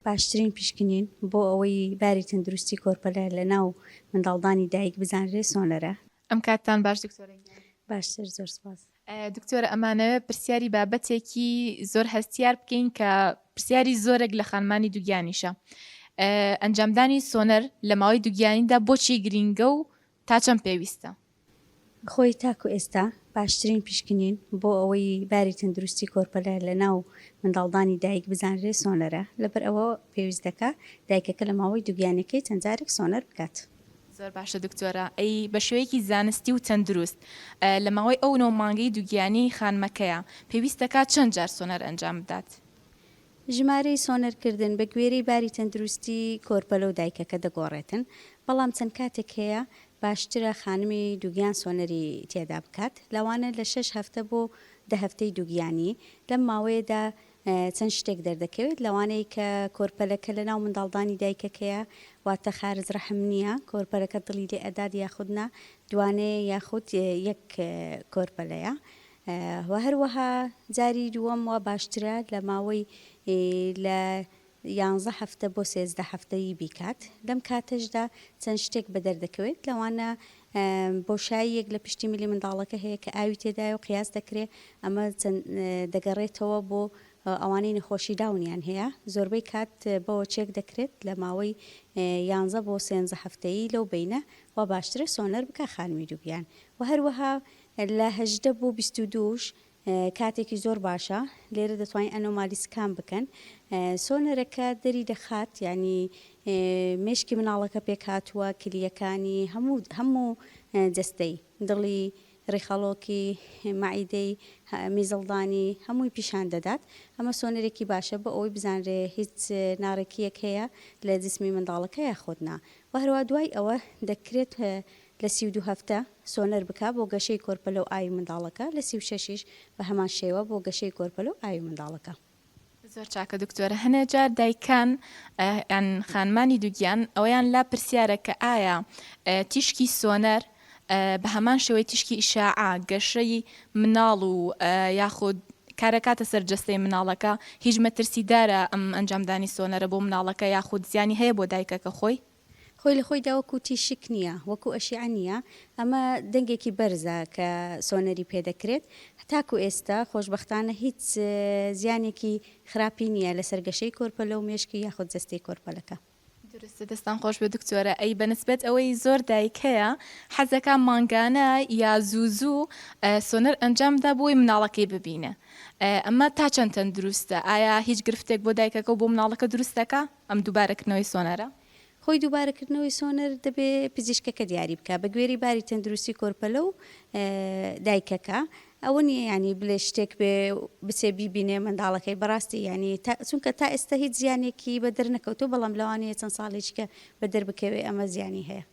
باشترین پیشکنین بۆ ئەوەی باری تەندروستی کۆرپەلە لە ناو منداڵدانی دایک بزانرێ سۆنەرە. ئەم کاتتان باش دکتۆرە گیان. باشتر زۆر سپاس. دکتۆرە ئەمانەوێ پرسیاری بابەتێکی زۆر هەستیار بکەین کە پرسیاری زۆرێک لە خانمانی دوگیانیشە ئەنجامدانی سۆنەر لە ماوەی دوگیانیدا بۆچی گرینگە و تا چەند پێویستە؟ خۆی تاکو ئێستا باشترین پیشکنین بۆ ئەوەی باری تەندروستی کۆرپەلە لە ناو منداڵدانی دایک بزانرێ سۆنەرە، لەبەر ئەوە پێویست دەکا دایکەکە لە ماوەی دوگیانیەکەی چەند جارێک سۆنەر بکات. زۆر باشە دکتۆرە ئەی بە شێوەیەکی زانستی و تەندروست لە ماوەی ئەو نۆ مانگەی دوگیانی خانمەکەیا پێویست دەکات چەند جار سۆنەر ئەنجام بدات؟ ژمارەی سۆنەرکردن بە گوێرەی باری تەندروستی کۆرپەلە و دایکەکە دەگۆڕێتن، بەڵام چەند کاتێک هەیە باشترە خانمی دووگیان سۆنەری تێدا بکات، لەوانە لە شەش هەفتە بۆ دە هەفتەی دووگیانی، لەم ماوەیەدا چەند شتێک دەردەکەوێت لەوانەیە کە کۆرپەلەکە لەناو منداڵدانی دایکەکەیە واتە خارج رەحم نییە، کۆرپەلەکە دڵی لێ ئەدات یاخود نا، دوانەیە یاخود یەک کۆرپەلەیە، و هەروەها جاری دووەم وا باشترە لە ماوەی لە یانزە هەفتە بۆ سێزدە هەفتە ی بیکات لەم کاتەشدا چەند شتێک بەدەر دەکەوێت لەوانە بۆشاییەک لە پشتی ملی منداڵەکە هەیە کە ئاوی تێدایە و قیاس دەکرێ ئەمە دەگەڕێتەوە بۆ ئەوانەی نەخۆشی داونیان هەیە زۆربەی کات بەوە چێک دەکرێت لە ماوەی یانزە بۆ سێنزە هەفتەیی لەو بینە و باشترە سۆنەر بکە خانمی دووگیان و هەروەها لە هەژدە بۆ بیست و دوو ش کاتێکی زۆر باشە لێرە دەتوانین ئەنۆمالی سکان بکەن سۆنەرەکە دەری دەخات یعنی مێشکی مناڵەکە پێکهاتووە کلیەکانی هەموو هەموو جەستەی دڵی ڕیخەڵۆکی مەعیدەی میزڵدانی هەمووی پیشان دەدات ئەمە سۆنەرێکی باشە بۆ ئەوەی بزانرێ هیچ ناڕێکیەک هەیە لە جسمی منداڵەکە یاخۆت نا و هەروە دوای ئەوە دەکرێت لە سی و دوو هەفتە سۆنەر بکە بۆ گەشەی کۆرپەلە و ئاوی منداڵەکە، لە سی و شەش یش بە هەمان شێوە بۆ گەشەی کۆرپەلە و ئاوی منداڵەکە. زۆر چاکە دکتۆر هەنێ جار دایکان یان خانمانی دوگیان ئەوەیان لا پرسیارە کە ئایا تیشکی سۆنەر بە هەمان شێوەی تیشکی ئیشاعە گەشەی مناڵ و یاخود کارەکاتە سەر جەستەی مناڵەکە هیچ مەترسیدارە ئەم ئەنجامدانی سۆنەرە بۆ مناڵەکە یاخود زیانی هەیە بۆ دایکەکە خۆی؟ خۆی لە خۆیدا وەکو تیشک نییە، وەکو ئەشیعە نییە، ئەمە دەنگێکی بەرزە کە سۆنەری پێ دەکرێت، تاکو ئێستا خۆشبەختانە هیچ زیانێکی خراپی نییە لەسەر گەشەی کۆرپەلە و مێشکی یاخود جەستەی کۆرپەلەکە. دروستە دەستان خۆشبێت دکتۆرە ئەی بەنسبەت ئەوەی زۆر دایک هەیە حەزدەکا مانگانە یا زوو زوو سۆنەر ئەنجام بدا بۆی مناڵەکەی ببینێ ئەمە تا چەند تەندروستە ئایا هیچ گرفتێک بۆ دایکەکە و بۆ مناڵەکە دروست دەکا؟ ئەم دووبارەکردنەوەی سۆنەرە؟ خۆی دووبارەکردنەوەی سۆنەر دەبێ پزیشکەکە دیاری بکا بە گوێرەی باری تەندروستی کۆرپەلە و دایکەکە ئەوە نیە یانی بلێ شتێک بێ بچێ بیبینێ منداڵەکەی بەراستی یانی چونکە تا ئێستا هیچ زیانێکی بەدەر نەکەوتو بەڵام لەوانەیە چەند ساڵێکیکە بەدەر بکەوێ ئەمە زیانی هەیە.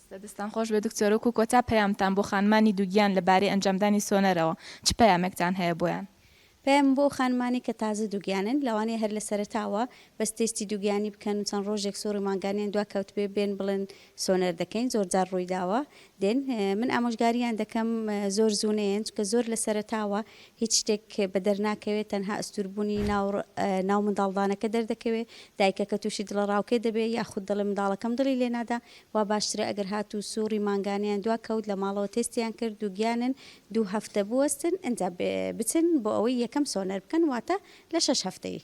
درستە دەستان خۆش بێت دکتۆر وەکو کۆتا پەیامتان بۆ خانمانی دووگیان لە بارەی ئەنجامدانی سۆنەرەوە چ پەیامێکتان هەیە بۆیان؟ پەیامم بۆ خانمانەی کە تازە دووگیانن لەوانەیە هەر لەسەرەتاوە بەس تێستی دووگیانی بکەن و چەند ڕۆژێک سوڕی مانگانەیان دوا کەوتبێ بێن بڵێن سۆنەر دەکەین زۆر جار ڕووی داوە دێن من ئامۆژگاریان دەکەم زۆر زوو نەیەن چونکە زۆر لەسەرەتاوە هیچ شتێک بەدەر ناکەوێ تەنها ئەستوربونی ناو ناو منداڵدانەکە دەردەکەوێ دایکەکە توشی دڵە ڕاوکێ دەبێ یاخود دەڵێ منداڵەکەم دڵی لێ نادا وا باشترە ئەگەر هاتو سوڕی مانگانەیان دوا کەوت لە ماڵەوە تێستیان کرد دوگیانن دوو هەفتە بوەستن ئنجا بچن بۆ ئەوەی یەکەم سۆنەر بکەن واتە لە شەش هەفتەیی